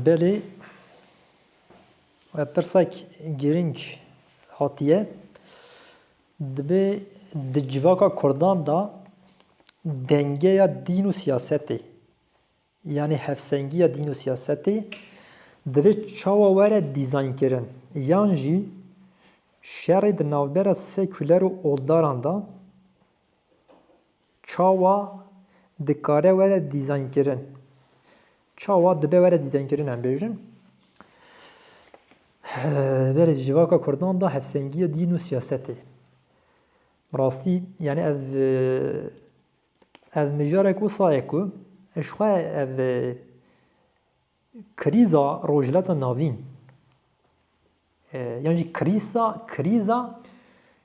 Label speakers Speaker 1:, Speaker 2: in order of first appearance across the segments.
Speaker 1: Belê pirsek girîng hatiye, dibê di civaka kurdan de dengeya dîn û siyasetê yanî hevsengiya dîn û siyasetê divê çawa were dîzaynkirin yan jî şerê di navbera sekûler û oldaran de Çawa dikare were dîzaynkirin? Çawa dibe were dîzaynkirin em bêjin? Berê civaka Kurdan da hevsengiyê dîn û siyasetê. Bi rastî yani ev ev mijarek wisa ye ku ji xwe ev Krîza Rojhilata Navîn yan jî krîsa krîza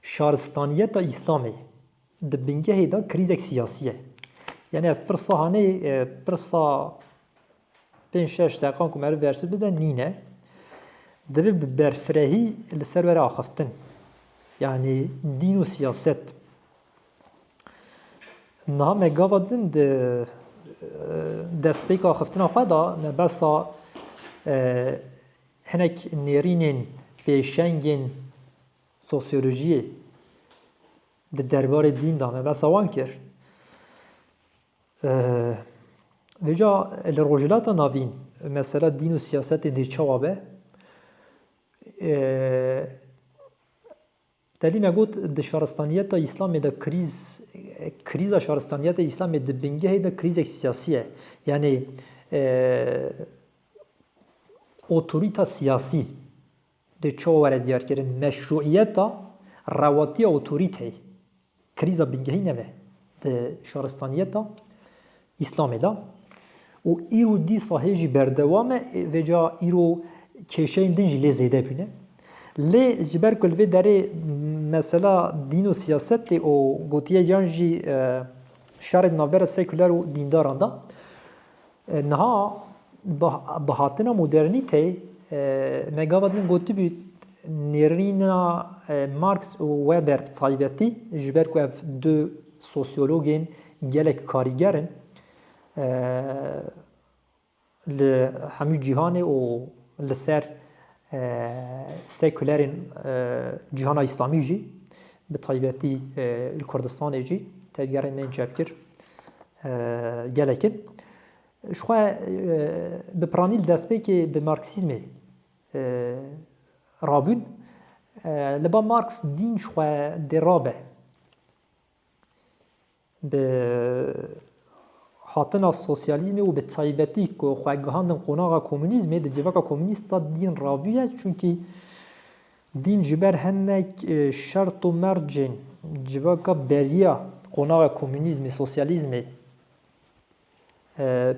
Speaker 1: şaristaniyeta Îslamê di bingehê de krîzek siyasî ye. Yani ev pirsa hane pirsa pênc şeş deqan ku meriv bersiv bide nîne. Divê bi berfirehî li ser were axiftin. Yani dîn û siyaset. Niha me gava din di destpêka axiftina xwe da me besa hinek nêrînên pêşengên sosyolojiyê di derbarê dîn da me besa wan kir. Vêca li Rojhilata Navîn mesela dîn û siyasetên dê çawa be? Telîme got, Di şaristaniyeta Îslamê de krîz, krîza şaristaniyeta Îslamê di bingehê de krîzek siyasî ye. Yanî otorîta siyasî dê çawa were diyarkirin, meşrûîyeta rewatiya otorîteyê. Krîza bingehî nebe di şaristaniyeta Îslamê de û îro dîsa hê jî berdewam e, vêca îro kêşeyên din jî lê zêde bûne. Lê ji ber ku li vê derê mesela dîn û siyasetê û gotiye yan jî e, şerê di navbera sekuler û dîndaran de Niha bi hatina modernîteyê me gava din gotibû nêrîna Marx û Weber bi taybetî ji ber ku ev du sosyologên gelek karîger in li hemû cîhanê û li ser Sekulerên cîhana Îslamî jî bi taybetî li Kurdistanê jî tevgerên bên çepkir gelek in. Ji xwe bi piranî li destpêkê bi Marksîzmê rabûn. Li ba Marks dîn ji xwe dê rabe. Bi hatina sosyalîzmê û bi taybetî ku xwe gihandin qonaxa komûnîzmê di civaka komûnîst de dîn rabûye çunkî dîn ji ber hinek şert û mercên civaka beriya qonaxa komûnîzmê, sosyalîzmê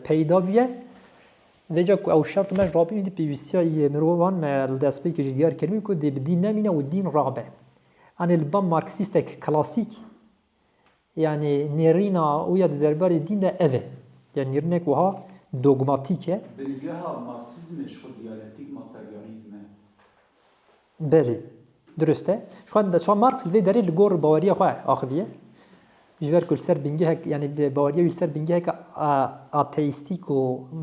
Speaker 1: peyda bûye. Vê ca ku ew şert û merc rabûn êdî pêwîstiya yê mirovan me li destpêkê jî diyar kiribû ku dê bi dîn nemîne û dîn rabe. Anê li ba marksîstek klasîk Yanî nêrîna wî ya di derbarê dîn de ev e. Ya nêrînek wiha dogmatîk e. Bingeha Marksîzmê ji xwe diyalektîk materyalîzm e. Belê, dirust e. Ji xwe ji xwe Marks li vê derê li gor baweriya xwe axiviye. Ji ber ku li ser bingehek yanî baweriya wî li ser bingeheke ateîstîk û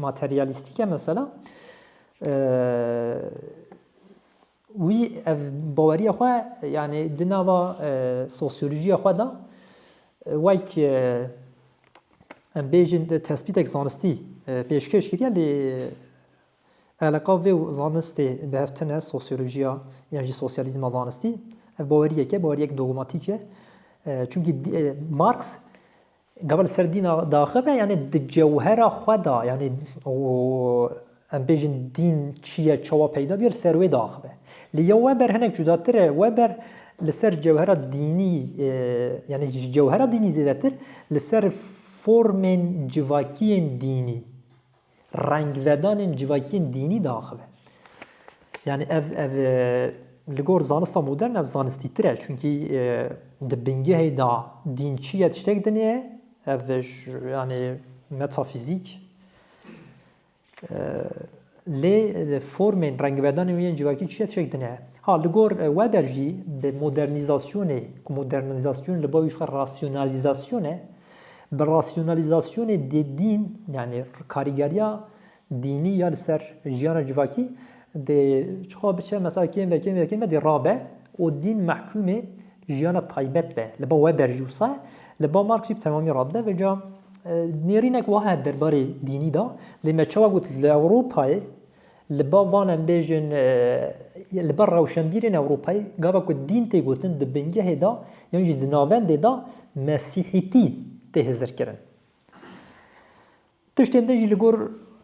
Speaker 1: materyalîstîk e mesela. Wî ev baweriya xwe yanî di nava sosyolojiya xwe de wek em bêjin tespîtek zanistî pêşkêş kiriye lê eleqa vê û zanistê bihevtine sosyolojiya yan jî sosyalîzma zanistî ev baweriyeke baweriyek dogmatîk e. Çunkî Marx Gava li ser dîn a daxive yanî di cewhera xwe de yanî û em bêjin dîn çi ye çawa peyda bûye li ser wê daxive. Lê ya we ber hinek cudatir e, we ber li ser cewhera dînî yanî ji cewhera dînî zêdetir li ser formên civakiyên dînî. rengvedanên civakiyên dînî diaxive. Yani ev ev li gor zanista modern ev zanistî tir e çunkî di bingehê da dîn çi ye tiştek dinê ye ev yani metafîzîk lê formên rengvedanê wî yên civakî çi ye tiştek dinê ye. Ha li gor Weber jî bi modernizasyonê ku modernizasyonê li bavî xwe rasyonalîzasyonê Bi rasyonalîzasyonê dê dîn yanî karîgeriya dînî ya li ser jiyana civakî dê çixa biçe mesela kêm ve kêm ve kêm ve dê rabe û dîn mehkûmê jiyana taybet be li ba Weber jî wisa li ba Marx jî bi temamî rabde ve ca nêrînek wahe derbarê dînî da lê me çawa got li Ewropayê Li ba van em bêjin li ber rewşenbîrên Ewropayê gava ku dîn tê gotin di bingehê de yan jî di navendê de mesîhîtî tê hizirkirin. Tiştên din jî li gor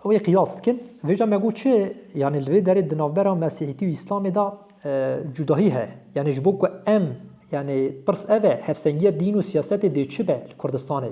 Speaker 1: wê qiyas dikin. Vêca me got çi yanî li vê derê di navbera mesîhîtî û îslamê de cudahî heye. Yanî ji bo ku em yanî pirs ev e hevsengiya dîn û siyasetê dê çi be li Kurdistanê?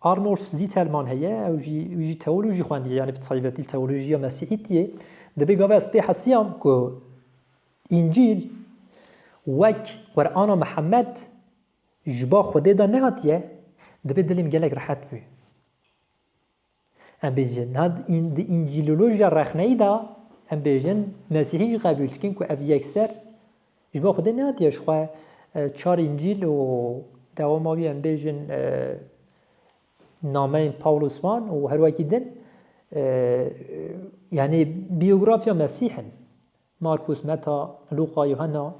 Speaker 1: Arnold Zitelmann heye ew jî wî jî teolojî xwendiye yanî bi taybetî teolojiya mesîhîtiyê dibê gava ez pê hesiyam ku încîl wek qurana mihemed ji ba xwedê de nehatiye dibê dilê min gelek rehet bû Em bêjin, niha di Încîlolojiya rexneyî de em bêjin Mesîhî jî qebûl dikin ku ev yekser ji bo Xwedê nehatiye ji xwe çar Încîl û dewama wî em bêjin nameyên Pawlos wan û her wekî din yanî bîyografya Mesîh in. Markus, Meta, Luqa, Yuhanna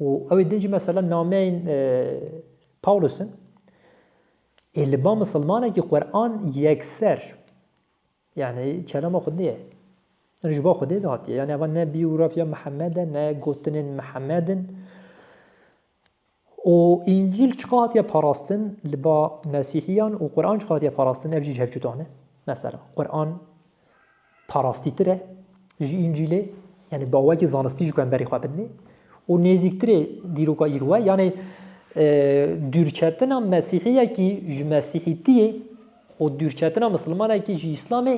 Speaker 1: û ew ê din jî mesela nameyên Pawlos in. Ê li ba misilmanekî Quran yekser yani kelama xwe nê yani ji bo Xwedê dihatiye yani eva ne biyografya Mihemede ne gotinên Mihemedin û Încîl çiqa hatiye parastin li ba Mesîhiyan û Quran çiqa hatiye parastin ev jî ji hev cuda ne. Mesela Quran parastîtir e ji Încîlê, yanî bawekî zanistî ji ku em berî xwe bidinê û nêzîktirê dîroka îro e, yanî dûrketina mesîhiyekî ji mesîhîtiyê û dûrketina misilmanekî ji îslamê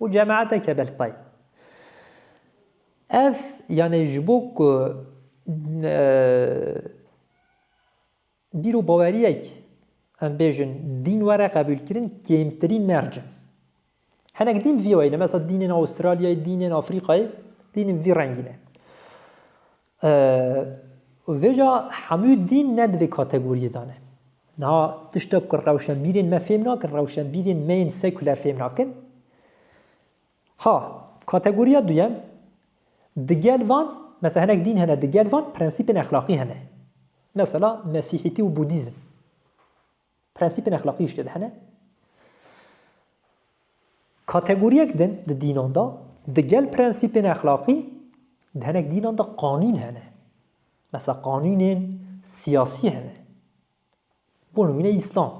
Speaker 1: û cemaete ke bel tay. Ev yanê ji bo ku bîr û baweriyek em bêjin dîn were qebûlkirin kêmtirîn merc in. Hinek dîn vî wayî ne, mesela dînên Aûstralyayê, dînên Afrîkayê, dînên vî rengî ne. Vêca hemû dîn ne divê kategoriyê de ne. Niha tiştek ku rewşenbîrên me fêm nakin, rewşenbîrên me yên sekuler fêm nakin. Ha, kategoriya duyem, digel van, mesela hinek dîn hene, digel van prensîpên exlaqî hene. Mesela Mesîhîtî û Budîzm. Prensîpên exlaqî jî tê de hene. Kategoriyek din di dînan de digel prensîpên exlaqî di hinek dînan de qanûn hene. Mesela qanûnên siyasî hene. Bo nimûne Îslam.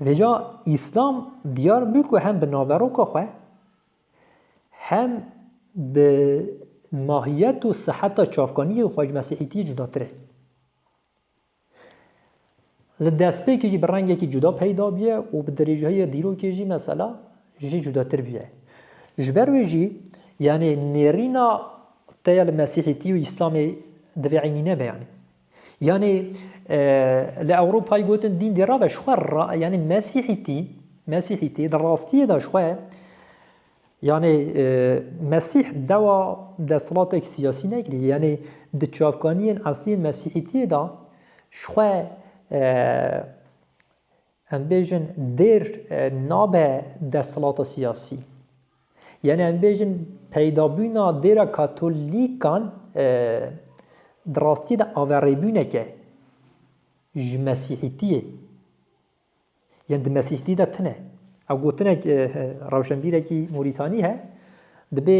Speaker 1: Vêca Îslam diyar bû ku hem bi naveroka xwe Hem bi mahiyet û siheta çavkaniyê Xwecî Mesîhîtiyê cudatir e. Li destpêkê jî bi rengekî cuda peyda bûye û bi dirêjayê dîrokê jî mesela jî cudatir bûye. Ji ber wê jî yanê nêrîna te ya li Mesîhîtî û Îslamê divê eynî nebe yanê. Yanî li Ewropayê gotin dîn dê rabe ji xwe ra yanî mesîhîtî mesîhîtî di rastiyê de ji xwe yanî mesîh dewa desthilatek siyasî nekirî yanî di çavkaniyên esliyên mesîhîtiyê de ji xwe Em bêjin dêr nabe desthilata siyasî. Yanî em bêjin peydabûna dêra Katolîkan di rastiyê de averêbûnek e ji Mesîhîtiyê. Yan di Mesîhîtiyê de tune. Ew gotinek rewşenbîrekî Morîtanî he dibê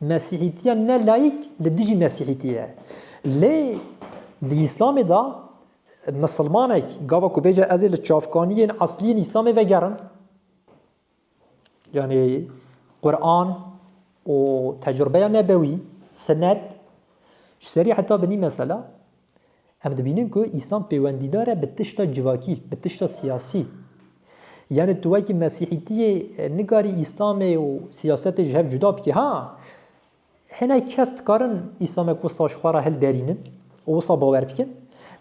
Speaker 1: Mesîhîtiya ne layîk li dijî mesîhîtî ye. Lê di Îslamê de misilmanek gava ku bêje ez ê li çavkaniyên eslî yên Îslamê vegerim yanê Quran û tecrübeya nebewî, sinet ji serî heta binî mesela Em dibînin ku Îslam pêwendîdar e bi tişta civakî, bi tişta siyasî. Yanî tu wekî mesîhîtiyê nikarî Îslamê û siyasetê ji hev cuda bikî. Ha hinek kes dikarin Îslamê ku wisa ji xwe re hilderînin û wisa bawer bikin.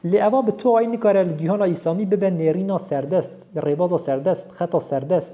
Speaker 1: Lê eva bi tuayî nikare li cîhana Îslamî bibe nêrîna serdest, rêbaza serdest, xeta serdest.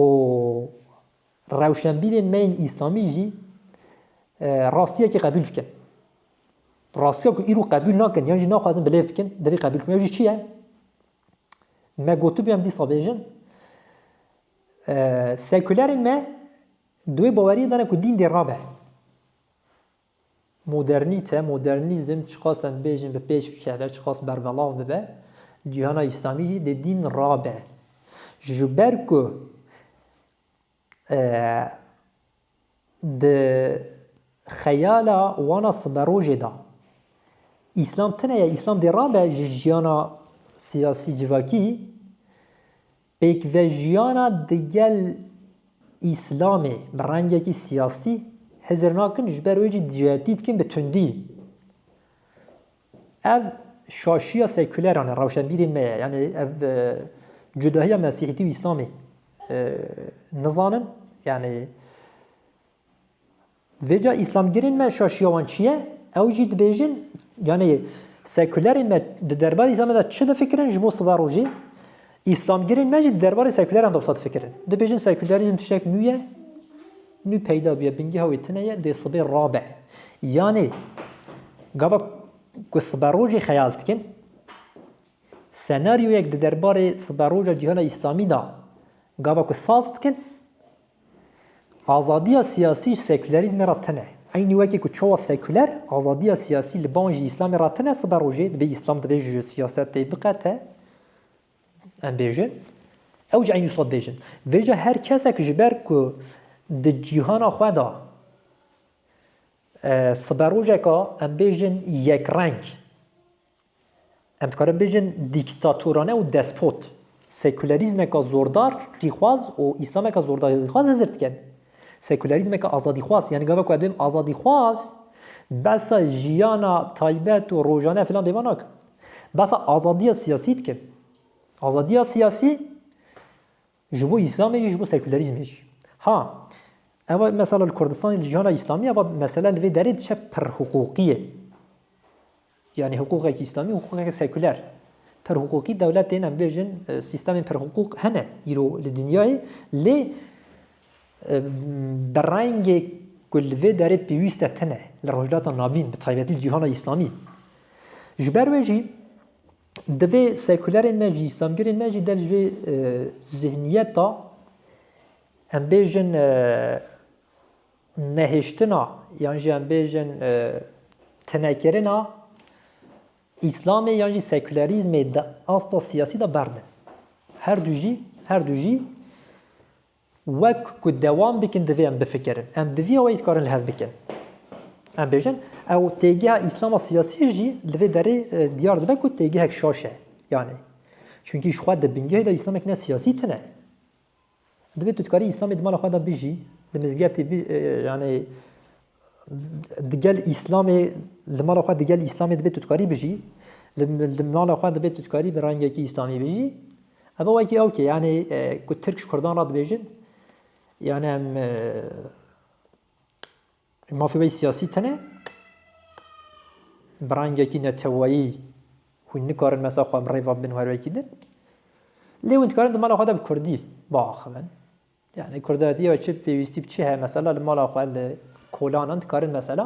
Speaker 1: Û rewşenbîrên me yên îslamî jî rastiyekî qebûl bikin. Rastiya ku îro qebûl nakin yan jî naxwazin bilêv bikin, divê qebûl bikin. Ew jî çi ye? Me gotibû em dîsa bêjin sekulerên me di wê baweriyê de ne ku dîn dê rabe. Modernîte, modernîzm çiqas em bêjin bi pêş bikeve, çiqas berbelav bibe, cîhana Îslamî jî di dîn rabe. Ji ber ku di xeyala wana siberojê de Îslam tune ye, Îslam dê rabe ji jîyana siyasî civakî, Pêkvejiyana digel Îslamê bi rengekî siyasî hizir nakin ji ber wê jî cihedî dikin bi tundî. Ev şaşiya sekûleran e, rewşenbîrên me ye. Yanî ev e, cudahiya Mesîhîtî û Îslamê e, nizanin. Yanî Vê ca îslamgirên me şaşiya wan çi ye? Ew jî dibêjin yanî sekulerên me di derbarê îslamê de çi difikirin ji bo siva rojê, îslamgirên me jî di derbarê sekuleran de wisa difikirin. Dibêjin sekulerîzm tiştek nû ye, nû peyda bûye, bingeha wê tune ye, dê sibê rabe. Yanî gava ku siva rojê xeyal dikin, senaryoyek di derbarê siva roja cîhana îslamî de gava ku saz dikin, Azadiya siyasî ji sekûlerîzmê re tune. Eynî wekî ku çawa sekûler azadiya siyasî li ban jî Îslamê re tune, sibe rojê divê Îslam divê ji siyasetê biqete, em bêjin, ew jî eynî wisa dibêjin. Vêca her kesek ji ber ku di cîhana xwe de sibe rojeka em bêjin yekreng, Em dikarin bêjin dîktatorane û despot sekûlerîzmeka zordar rîxwaz û îslameka zordar rîxwaz hizir dikin. Sekûlerîzmeka azadîxwaz yanî gava ku ez bêm azadîxwaz behsa jiyana taybet û rojane filan dêva nakin. Behsa azadiya siyasî dikin. Azadiya siyasî Ji bo Îslamê jî ji bo sekûlerîzmê jî. Ha ev mesela li Kurdistanê li cîhana Îslamî ev mesele li vê derê diçe pir hiqûqî ye. Yani hiqûqekî Îslamî hiqûqeke sekûler. Pir hiqûqî dewletên em bêjin sîstemên pir hiqûq hene îro li dinyayê lê bi rengê ku li vê derê pêwîste tine li Rojhilata Navîn bi taybetî li cîhana Îslamî. Ji ber wê jî Divê sekulerên me jî, îslamgirên me jî der ji vê zihniyeta em bêjin nehêştina yan jî em bêjin tinekirina îslamê yan jî sekulerîzmê di asta siyasî de berdin. Her du jî, her du jî Wek ku dewam dikin divê em bifikirin. Em bi vî wê dikarin li hev bikin. Em bêjin ew têgeha îslama siyasî jî li vê derê e, diyar dibe ku têgehek şaş e. Yanê. Çunkî ji xwe di bingehê de îslamek ne siyasî tune. Divê tu dikarî îslamê di mala xwe de bijî, di mizgeftê e, yanê Digel Îslamê li mala xwe digel Îslamê dibê tu dikarî bijî. Li mala xwe dibê tu dikarî bi rengekî Îslamî bijî. Ev wekî ew ki yanî ku Tirk ji Kurdan re dibêjin yani em mafê wê siyasî tune bi rengekî neteweyî hûn nikarin mesela xwe em rêva bin wer wekî din. Lê hûn dikarin di mala xwe de bi Kurdî biaxivin. Yanî kurdatiye ya çi pêwîstî bi çi heye mesela li mala xwe li kolanan dikarin mesela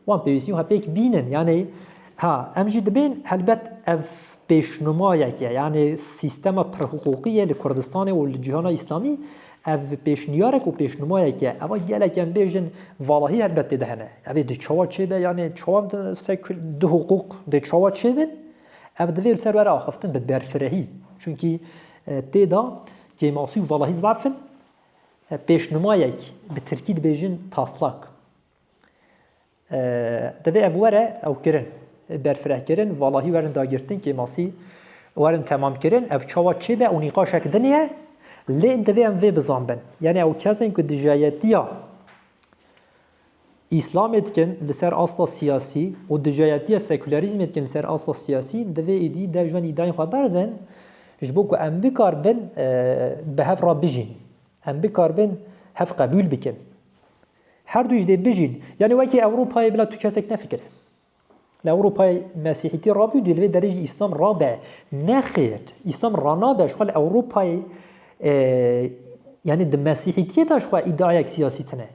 Speaker 1: wan pêwîstî xwe pêk bînin yanî ha em jî dibên helbet ev pêşnumayek e yanî sîstema pirhiqûqî ye li Kurdistanê û li cîhana îslamî ev pêşniyarek û pêşnumayek e ewa gelek em bêjin valahî helbet tê de hene evê di çawa çêbe yanî çawa sekul du hiqûq dê çawa çêbin ev divê li ser were axiftin bi berfirehî çunkî tê da Kêmasî û valahî zaf in. Pêşnimayek bi tirkî dibêjin taslak. Divê ev were ew kirin. Berfireh kirin, valahî werin dagirtin, kêmasî werin temam kirin. Ev çawa çê be û nîqaşek din ye. Lê divê em vê bizanbin. Yanî ew kes in ku dijayetiya Îslamê dikin li ser asta siyasî û dujayetiya sekûlerîzmê dikin li ser asta siyasî, divê êdî dev ji van îdayên xwe berdin ji bo ku em bikaribin bi hev re bijîn, em bikaribin hev qebûl bikin. Her du jî dê bijîn. Yanî wekî Ewropayê bila tu kesek nefikire. Li Ewropayê mesîhîtî rabû dû li vê derê jî îslam rabe. Nexêr, îslam ranabe jixwe li Ewropayê e, yanî di mesîhîtiyê de jixwe îdiayek siyasî tune.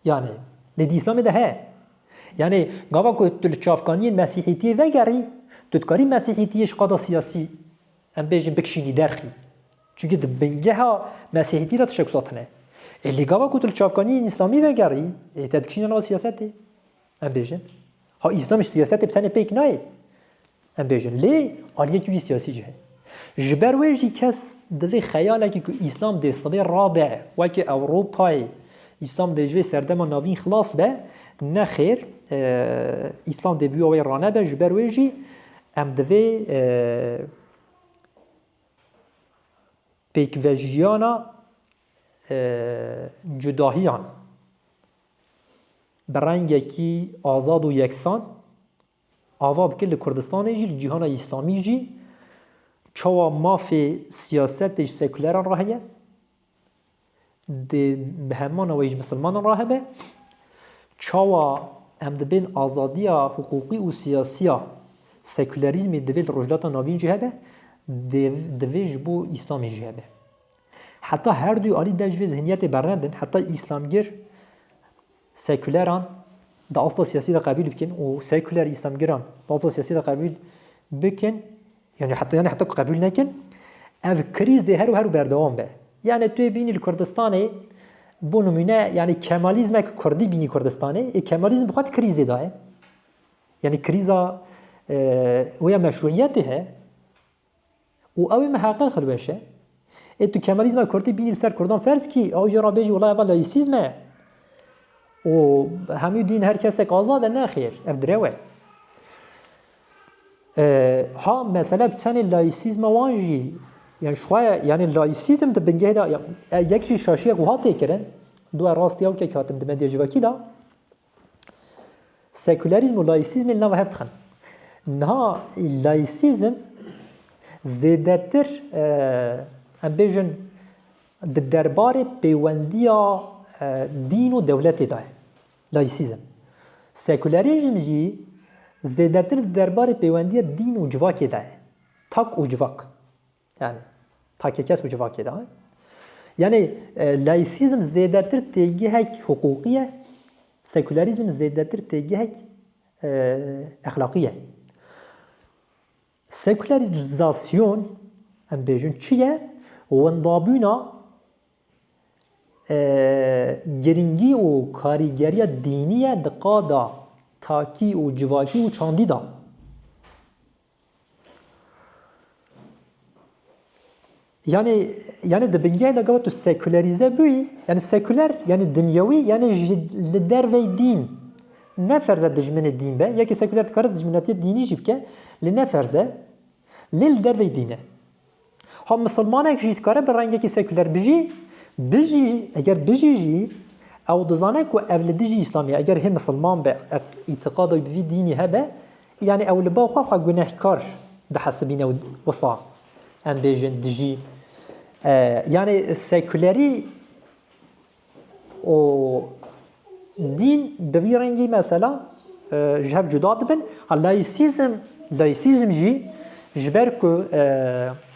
Speaker 1: Yanî lê di îslamê de heye. Yanî gava ku tu li çavkaniyên mesîhîtiyê vegerî, tu dikarî mesîhîtiyê ji qada siyasî em bêjin bikişînî derxî. Çunke di bingeha mesîhîtî de tişek zatine. Ê lê gava ku tu li çavkaniyên îslamî vegerî, ê te dikişîne nava siyasetê. Em bêjin ha îslam ji siyasetê bi tenê pêk nayê. Em bêjin lê aliyekî wî siyasî jî heye. Ji ber wê jî kes divê xeyalekî ku îslam dê sibê rabe wekî Ewropayê îslam dê ji vê serdema navîn xilas be nexêr îslam dê bûya wê ranebe ji ber wê jî em divê pêkvejiyana cudahiyan bi rengekî azad û yeksan ava bike li Kurdistanê jî, li cîhana Îslamî jî çawa mafê siyasetê ji sekûleran re heye, bi hemana wê ji misilmanan re hebe, çawa em dibên azadiya hiqûqî û siyasiya sekûlerîzmê divê li Rojhilata Navîn jî hebe, divê ji bo Îslamê jî hebe. Heta her du alî dev ji vê zihniyetê bernev bin, heta îslamgir sekûleran di asta siyasî de qebîl bikin û sekûler îslamgiran di asta siyasî de qebîl bikin yani heta yani heta qebîl nekin ev krîz dê her û her û berdewam be. Yani tu yê bînî li Kurdistanê bo nimûne yani kemalîzmek Kurdî bînî Kurdistanê ê kemalîzm bi xwe di krîzê de ye. Yani krîza wê ya meşruiyetê he Û ew ê miheqiq hilweşe. Ê tu Kemalîzma Kurdî bînî li ser Kurdan ferz bikî, ew jî re bêjî wila ev laîsîzm e û hemû dîn her kesek azad e, nexêr, ev direw e. Ha mesele bi tenê laîsîzma wan jî yani şixwe yani laîsîzm di bingehê de yek jî şaşiyek wiha tê kirin, dua rastî ew ke hatim di medyajivakî de Sekûlerîzm û layîsîzmê li nav hev dixin. Niha layîsîzm zêdetir em bêjin di derbarê pêwendiya dîn û dewletê de ye. Layîsîzm. Sekûlerîzm jî zêdetir di derbarê pêwendiya dîn û civakê de ye. Tak û civak. Yanî takê kes û civakê de. Yanî laîsîzm zêdetir têgihek hiqûqî ye, sekûlerîzm zêdetir têgihek exlaqî ye. Sekûlerizasyon em bêjin çi ye? Wendabûna giringî û karîgeriya dînî ye di qada takî û civakî û çandî de. Yani yani di bingehê de gava tu sekulerize bûyî, yani sekuler yani dinyewî yani ji li dervey dîn. Ne ferze dijminê dîn be, yekî sekuler dikare dijminatiyê dînî jî bike, lê ne ferze, lê li dervey dîn e. Ha misilmanek jî dikare bi rengekî sekûler bijî, bijî eger bijî jî ew dizane ku ev li dijî Îslamî eger hê misilman be ev îtiqada bi vî dînî hebe yanî ew li ba xwe xwe gunehkar dihesibîne wisa em bêjin dijî yanî sekûlerî û dîn bi vî rengî mesela ji hev cuda dibin. Ha laîsîzm laîsîzm jî ji ber ku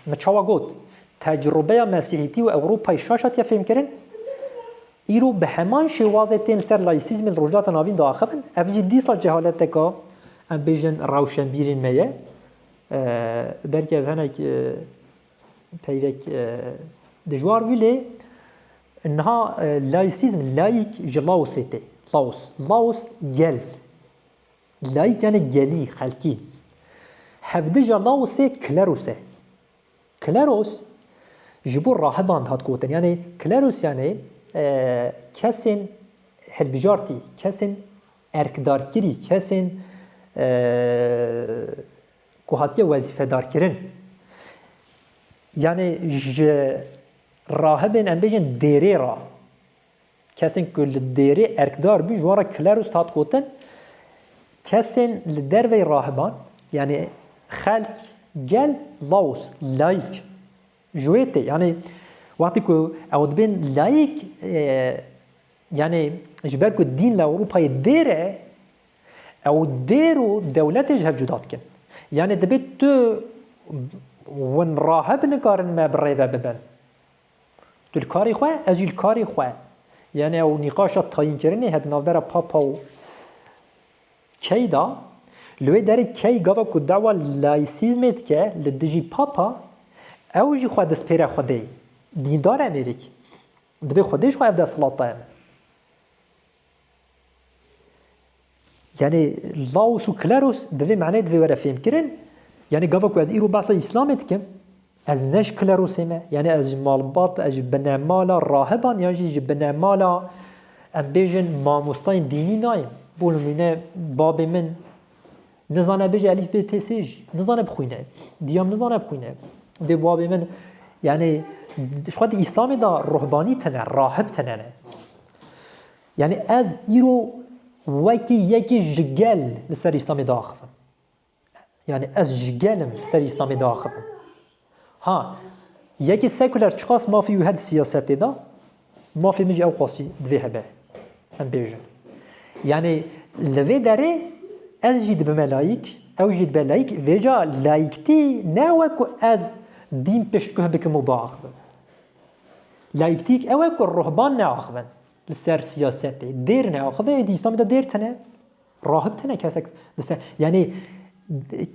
Speaker 1: min çawa got tecrûbeya mesîhîtî û Ewropayê şaş hatiye fêmkirin îro bi heman şêwazê tên li ser laîsîzmê li Rojhilata Navîn de axivin ev jî dîsa cehaleteka em bêjin rewşenbîrên me ye belkî ev hinek Peyrek dijwar bû lê niha laîsîzm, laîk ji Laosê tê. Laos, Laos gel. Laîk yanê gelî, xelkî. Hevdija Laosê kleros e. Kleros ji bo rahiban dihat gotin. Yanê kleros yanê kesên hilbijartî, kesên erkdarkirî, kesên ku hatiye wezîfedarkirin yanê ji rahibên em bêjin dêrê re kesên ku li dêrê erkdar bûn ji wan re klerus hat gotin kesên li dervê rahiban yanê xelk gel laos layîk ji wê tê yanê wextê ku ew dibên layîk yanê ji ber ku dîn li Ewropayê dêr e Ew dêr û dewletê ji hev cuda dikin. Yanê dibê tu win rahe binikarin me bi rê ve bibin. Tu li karê xwe, ez jî li karê xwe. Yanê ew nîqaşa tayînkirinê heye di navbera Papa û Key de. Li wê derê Key gava ku dawa layîsîzmê dike li dijî Papa, ew jî xwe dispêre Xwedê. Dîndar em êrîk. Dibê Xwedê ji xwe ev desthilat daye min. Yani laos û kleros bi vê maneyê divê were fêmkirin. Yani gava ku ez îro behsa îslamê dikim, ez ne ji klerosê me, yani ez ji malbat, ez ji binemala rahiban yan jî ji binemala em bêjin mamostayên dînî nayêm. Bo nimûne babê min Nizane bêje elîf bê tê sê jî. Nizane bixwîne. Diyam nizane bixwîne. Dê bavê min yani ji xwe di îslamê da ruhbanî tene, rahib tene ne. Yani ez îro wekî yekî ji gel li ser îslamê diaxivim. Yani ez ji gelim li ser îslamê diaxivim. Ha, yekê sekuler çiqas mafê wî heye di siyasetê de, mafê min jî ew qasî divê hebe. Em bêjin. Yanî li vê derê ez jî dibime layîk, ew jî dibe layîk, vêca layîktî ne we ku ez dîn piştguh bikim û biaxivim. Layîktîk ew e ku ruhban neaxivin li ser siyasetê. Dêr neaxive, êdî Îslamê de dêr tune. Rahib tene kesek dise yanî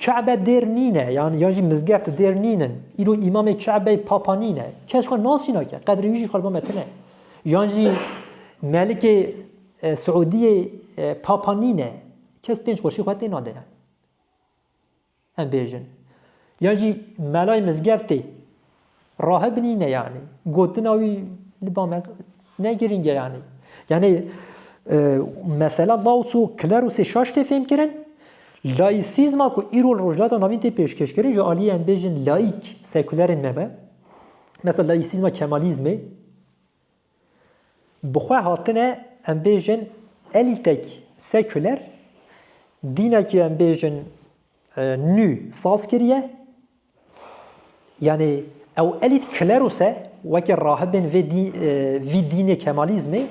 Speaker 1: Ka'be dêr nîne yan yan jî mizgeft dêr nînin. Îro îmamê Ka'beyê papa nîne. Kes xwe nasîna ke qedrê wî jî xwe li bo me tine. Yan jî melikê e, Siûdiyê e, papa nîne. Kes pênc xweşî xwe têna de yani. Em bêjin. Yan jî melayê mizgeftê rahib nîne yanî. Gotina wî li ba me ne girîng e yanî. Yanî mesela Laos û Klerosê şaş tê fêmkirin. Laîsîzma ku îro li Rojhilata Navîn tê pêşkêşkirin ji aliyê em bêjin laîk, sekulerên me be. Mesela laîsîzma kemalîzmê. Bi xwe hatine em bêjin elîtek sekuler, dînekî em bêjin nû saz kiriye, yanî ew elît kleros e, weke rahibên vê vî dînê kemalîzmê,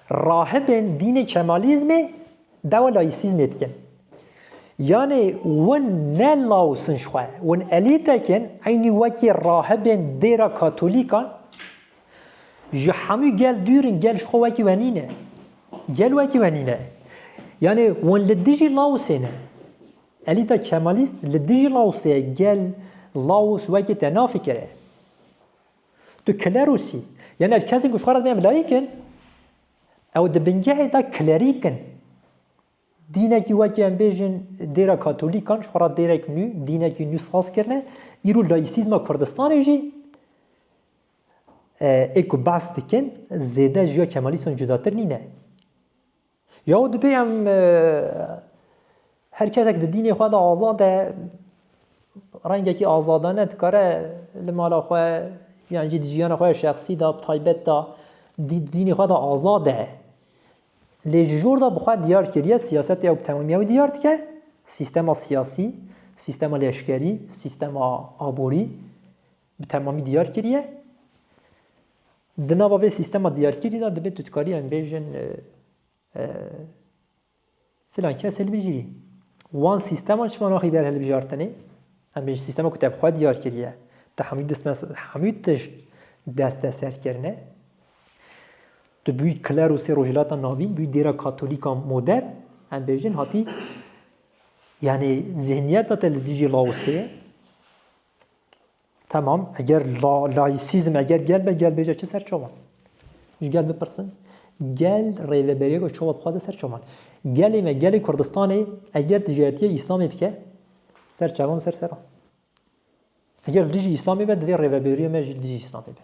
Speaker 1: rahibên dînê kemalîzmê, Dawa layîsîzmê dikin. Yanê win ne laos in ji xwe, win elîtek in, eynî wekî rahibên dêra katolîkan ji hemû gel dûr in, gel ji xwe wekî we nîne. Gel wekî we nîne. Yanê win li dijî laosê ne. Elîta kemalîst li dijî laosê ye, gel laos wekî te nafikire. Tu kilerosî. Yanê ev kesên ku ji xwe re dibêjin layîk in, Ew di bingehê de klerîk in. Dînekî wekî em bêjin dêra katolîkan ji xwe re dêrek nû, dînekî nû saz kirine. Îro laîsîzma Kurdistanê jî ê ku behs dikin zêde ji ya Kemalîstan cudatir nîne. Ya û dibê em Her kesek di dînê xwe de azad e, rengekî azadane dikare li mala xwe yan jî di jiyana xwe ya şexsî de, bi taybet de di dînê xwe de azad e. Lê ji jor de bi xwe diyar kiriye siyasetê ew bi tewamî ew diyar dike, sîstema siyasî, sîstema leşkerî, sîstema aborî bi temamî diyar kiriye. Di nava vê sîstema diyarkirî de divê tu dikarî em bêjin Filan kes hilbijîrî. Wan sîsteman çima naxî ber hilbijartinê? Em bêjin sîstema ku te bi xwe diyar kiriye. Te hemû distmes hemû tişt desteser kirine. Tu bûyî klerosê Rojhilata Navîn, bûyî dêra katolîka modern. Em bêjin hatî yanê zihniyeta te li dijî Laosê ye. Tamam, eger la, laisizm eger gel be gel bêje çi ser çoman? Ji gel bipirsin. Gel rêveberiyek û çawa bixwaze ser çoman. Gelê me, gelê Kurdistanê eger dijatiye İslamê bike ser çavan ser seran. Eger dijî İslamê be divê rêveberiyê me jî dijî İslamê be.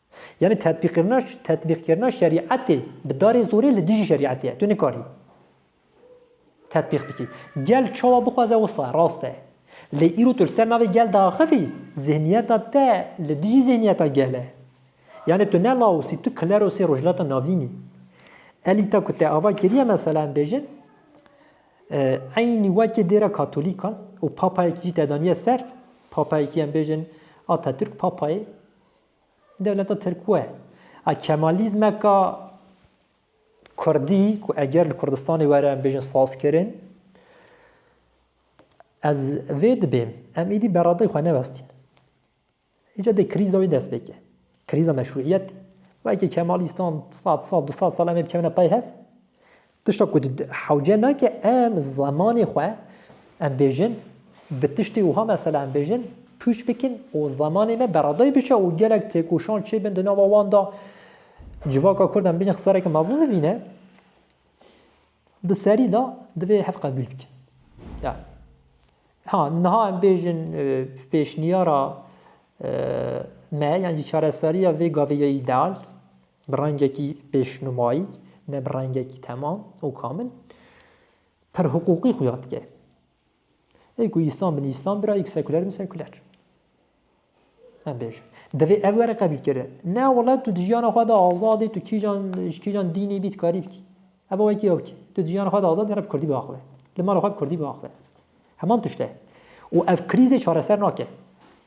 Speaker 1: Yanî tetbîqkirina tetbîqkirina şerîetê bi darê zorê li dijî şerîetê ye. Tu nikarî tetbîq bikî. Gel çawa bixwaze wisa ye, rast e. Lê îro tu li ser navê gel diaxivî, zihniyeta te li dijî zihniyeta gel e. Yanî tu ne Laos î, tu Klerosê Rojhilata Navîn î. Elîta ku te ava kiriye mesela em bêjin, eynî wekî dêra Katolîkan û papayekî jî te daniye ser, papayekî em bêjin Atatürk papayê Dewleta Tirkwe a Kemalîzmeka Kurdî ku eger li Kurdistanê were em bêjin sazkirin, ez vê dibêm em êdî beradeyê xwe nevestîn. Îca dê krîza wê dest pê ke. Krîza meşruîyetê. Weke Kemalîstan sed sal du sed sal em ê bikevine pey hev. Tişta ku hewce nake em zemanê xwe em bêjin bi tiştê wiha mesela em bêjin pûç bikin û zemanê me beredayî biçe û gelek têkoşan çêbin di nava wan de civaka kurd em bêjin xisareke mezin bibîne di serî de divê hev qebûl bikin. Yani. Ha niha em bêjin pêşniyara me yan jî çareseriya vê gavê ya îdeal Bi rengekî pêşnumayî, ne bi rengekî temam û kamil, pir hiqûqî xuya dike. Ê ku Îslam bin Îslam bira, ê ku sekuler bin sekuler. Em bêjin. Divê ev were qebîl kire. Ne wele tu di jiyana xwe de azadî, tu kîjan ji kîjan dînê bî dikarî bikî. Ev wekî ew kî. Tu di jiyana xwe de azad hereb Kurdî biaxive. Li mala xwe bi Kurdî biaxive. Heman tişt e. Û ev krîzê çareser nake.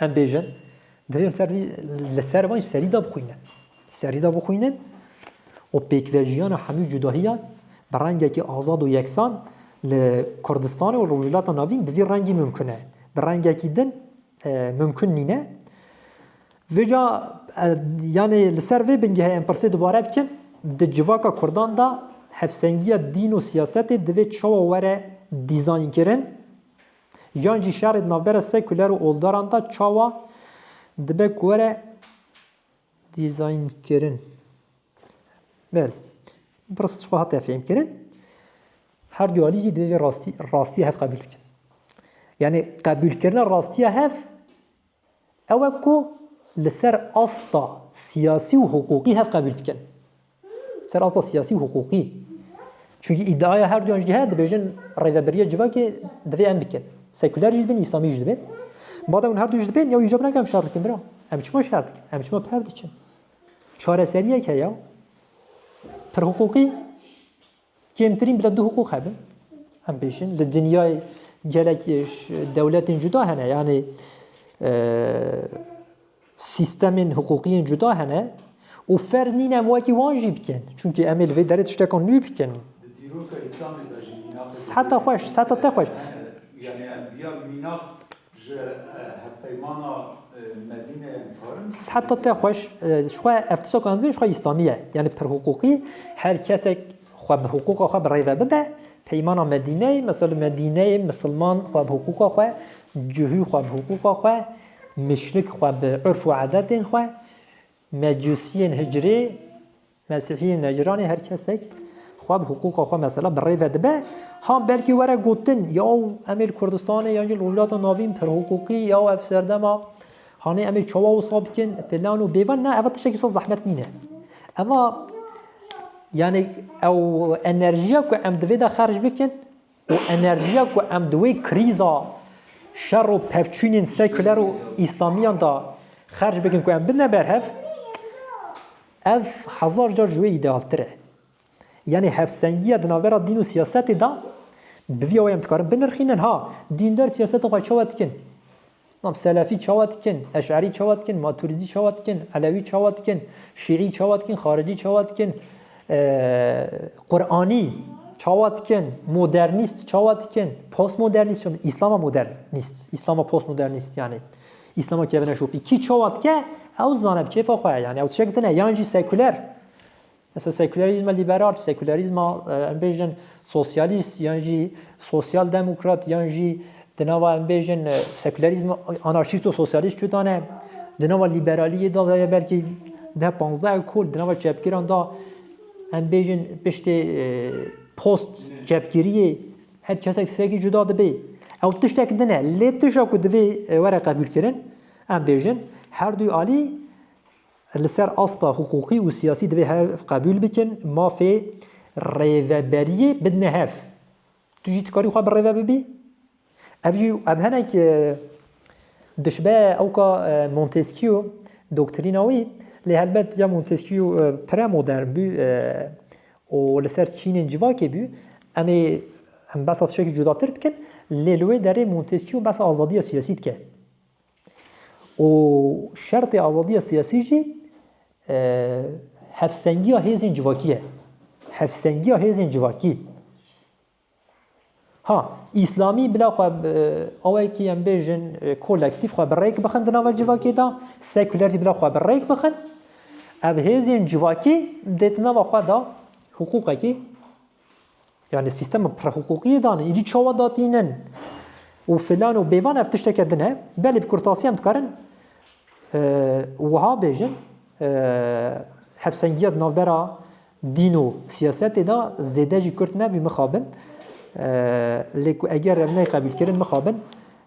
Speaker 1: Em bêjin, divê em ser vî li ser van ji serî de bixwînin. Serî de bixwînin û pêkvejiyana hemû cudahiyan bi rengekî azad û yeksan li Kurdistanê û Rojhilata Navîn bi vî rengî mimkun e. Bi rengekî din mimkun nîne. Vêca yanê li ser vê bingehê em pirsê dubare bikin, di civaka Kurdan de hevsengiya dîn û siyasetê divê çawa were dîzaynkirin? Yan jî şerê di navbera sekuler û oldaran de çawa dibe ku were dîzaynkirin? Belê. Pirs ji xwe hate fêmkirin. Her du alî jî divê vê rastî rastiya hev qebûl bikin. Yani qebûlkirina rastiya hev ew e ku li ser asta siyasî û hiqûqî hev qebûl bikin. Li ser asta siyasî û hiqûqî. Çunkî îdiaya her duyan jî heye dibêjin rêveberiya civakê divê em bikin. Sekuler jî dibin, îslamî jî dibin. Madem hûn her du jî dibin, ya îja binake em şer dikin bira. Em çima şer dikin? Em çima pev diçin? Çareseriyek heye pir hiqûqî. Kêmtirîn bila du hiqûq hebe em bêjin li dinyayê gelek dewletên cuda hene yanê sîstemên hiqûqiyên cuda hene û fer nîn em wekî wan jî bikin çunki em ê li vê derê tiştekan nû bikin heta xweş heta te xweş Ji hevpeymana Medîneyê dixwazin. Siheta te xweş. Ji xwe ev tişta ku em dibin ji xwe Îslamî ye. Yanî bi pirhiqûqî her kesek xwe bi hiqûqa xwe bi rê ve bibe. Peymana Medîneyê mesela li Medîneyê misilman xwe bi hiqûqa xwe, cihû xwe bi hiqûqa xwe, mûşrik xwe bi urf û edetên xwe, mecûsiyên hicrê, Mesîhiyên Necranê her kesek xwe bi hiqûqa xwe mesela bi rê ve dibe, ha belkî were gotin ya em ê li Kurdistanê yan jî li Rojhilata Navîn pirhiqûqî ya ev serdema hanê em ê çawa wisa bikin filan û bêvan na ev tiştekî wisa zehmet nîne. Ema yanî ew enerjiya ku em divê de xerc bikin û enerjiya ku em di wê krîza şer û pevçûnên sekûler û îslamiyan de xerc bikin ku em bidine berhev, ev hezar car ji wê îdealtir e. Yanî hevsengiya di navbera dîn û siyasetê de bi vî awayê em dikarin binirxînin, ha dîndar siyaseta xwe çawa dikin? Nam Selefî çawa dikin, Eş'arî çawa dikin, Maturidî çawa dikin, Elewî çawa dikin, Şîî çawa dikin, Xaricî çawa dikin, Quranî çawa dikin, modernîst çawa dikin, postmodernîst çawa Îslama modernîst, Îslama postmodernîst yanî Îslama kevine şopî kî çawa dike ew dizane bi kêfa xwe ye yanî ew tişek dine yan jî sekuler Mesela sekülerizma liberal, sekülerizma em bêjin sosyalist yan jî sosyal demokrat yan jî di nava em bêjin sekülerizma anarşîst û sosyalist çutan e. Di nava liberaliyê da veye belkî deh panzdeh ekol di nava çepgiran da em bêjin piştê post çepgiriyê her kesek tisekî cuda dibê. Ew tiştek din e. Lê tişa ku divê were qebûlkirin em bêjin her duy alî Li ser asta hiqûqî û siyasî divê hev qebûl bikin mafê rêveberiyê bidine hev. Tu jî dikarî xwe birêve bibî. Ev jî ev hinek dişbe ewka Montesquieu doktrîna wî lê helbet ya Montesquieu premodern bû û li ser çînên civakê bû. Em ê em behsa tiştekî cudatir dikin lê li wê derê Montesquieu behsa azadiya siyasî dike. û şertê azadiya siyasî jî hevsengiya hêzên civakî ye. Hevsengiya hêzên civakî. Ha îslamî bila xwe awekî em bêjin kolektîf xwe bi rêk bixin di nava civakê de, sekuler jî bila xwe bi rêk bixin. Ev hêzên civakî dê di nava xwe de hiqûqekî Yani sîstema prehuquqiyê dan îdî çawa datînin û filan û bêvan ev tişteke din e. Belê bi kurtasî em dikarin wiha bêjin hevsengiya di navbera dîn û siyasetê de zêde jî kurt nebî mixabin. Lê ku eger ev neyqebîlkirin mixabin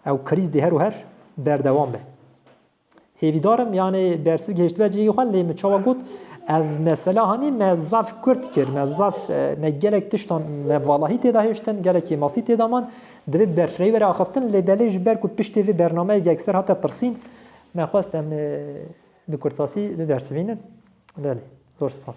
Speaker 1: ew krîz dê her û her berdewam be. Hêvîdar im yanê dersî gihêştibe cihê xwe lê min çawa got ev mesela hanî me zaf kurt kir me zaf e, me gelek tiştan me valahî têda hêştin gelek kêmasî têda man divê berfireyî were axiftin lê belê ji ber ku piştê vê bernameyê yekser hate pirsîn me xwest em e, bi kurtasî bibersivînin belê zor spas.